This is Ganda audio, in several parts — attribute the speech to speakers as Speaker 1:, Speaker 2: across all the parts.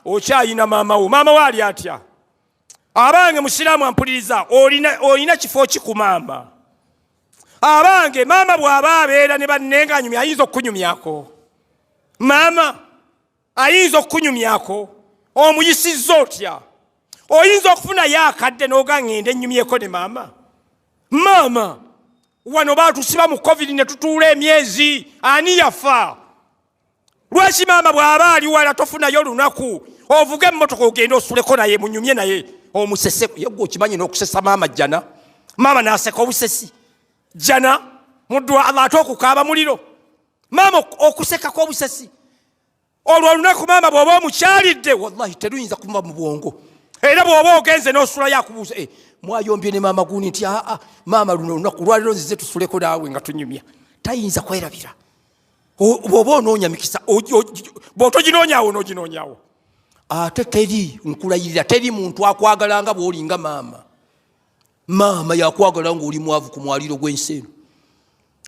Speaker 1: okyayina maama wo maama wo ali atya abange musiraamu ampuliriza olina kifo ki ku maama abange maama bw'aba abeera ne bannenganyumya ayinza okukunyumyako maama ayinza okukunyumyako omuyisizza otya oyinza okufunayo akadde n'oga ngende nnyumyeko ne maama maama wano baatusiba mu covid ne tutuula emyezi ani yafa lwaki maama bw'aba ali wala tofunayo olunaku ovuge emmotoka ogende osuleko naye munyumye naye omusese yegwe okimanyi n'okusesa maama jjana maama naaseka obusesi jjana muddwa allah ate okukaaba muliro maama okusekako obusesi olwo olunaku maama bw'oba omukyalidde wallahi teruyinza kumuba mu bwongo era bw'oba ogenze n'osula yakubuuza eh, mwayombye ne maama gundi nti aa maama luno olunaku lwaliro nzize tusuleko naawe nga tunyumya tayinza kwerabira bwoba onoonya mikisa bwotoginonyawo onoginonyawo ate teri nkulayirira teri muntu akwagala nga bwolinga maama maama yakwagala ngaoli mwavu ku mwaliro gw'ensi eno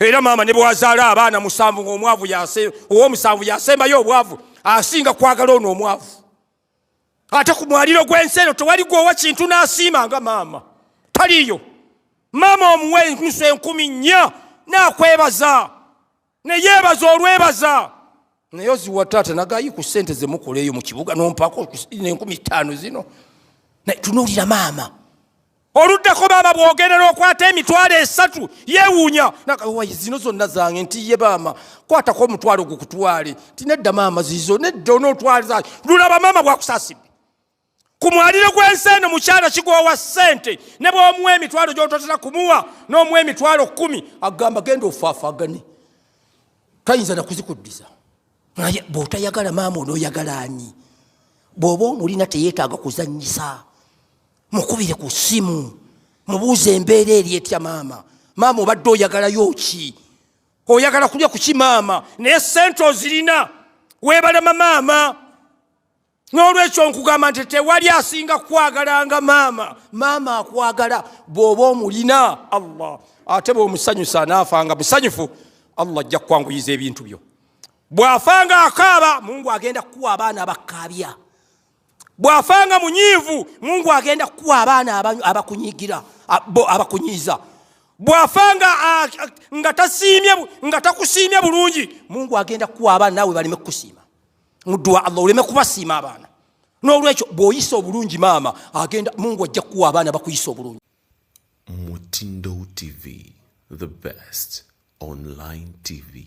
Speaker 1: era maama ne bwazaala abaana musanvu ngaomwavu owomusanvu yasembayo obwavu asinga kwagala ono omwavu ate ku mwaliro gw'ensi eno tewali gwowa kintu n'asiima nga maama taliyo maama omuwa enkusu enkumi nnya n'akwebaza neyeebaza olwebaza naye oziwa taata nagayi ku ssente zemukola eyo mu kibuga nompako nenkumi ttaano zino naye tunuulira maama oluddako baama bwogerera okwata emitwalo esatu yewuunya nagawayi zino zonna zange nti ye baama kwatako omutwalo gukutwale nti nedda maama zizo nedda onootwaliza lulaba maama bwakusasidde ku mwaliro gw'ensi eno mukyala kigoowa ssente ne bwomuwa emitwalo gyototera kumuwa n'omuwa emitwalo kkumi agamba genda ofaafagane tayinza nakuzikuddiza naye bw'otayagala maama onooyagala ani bw'oba omulina teyeetaaga kuzannyisa mukubire ku ssimu mubuuze embeera eri etya maama maama obadde oyagalayo ki oyagala kulya kuki maama naye sente ozirina webalema maama n'olwekyo nkugamba nti tewali asinga kukwagalanga maama maama akwagala bw'oba omulina allah ate bw'omusanyusa anaafanga musanyufu allah ajja kukwanguyiza ebintu byo bw'afanga akaaba mungu agenda kukuwa abaana abakkaabya bw'afa nga munyiivu mungu agenda kukuwa abaana abakunyigira abakunyiiza bw'afa nga tasiimye nga takusiimye bulungi mungu agenda kukuwa abaana naawe baleme kukusiima muduwa allah oleme kubasiima abaana n'olwekyo bw'oyisa obulungi maama agenda mungu ajja kukuwa abaana bakuyisa obulungi
Speaker 2: mutindo tv the best online tv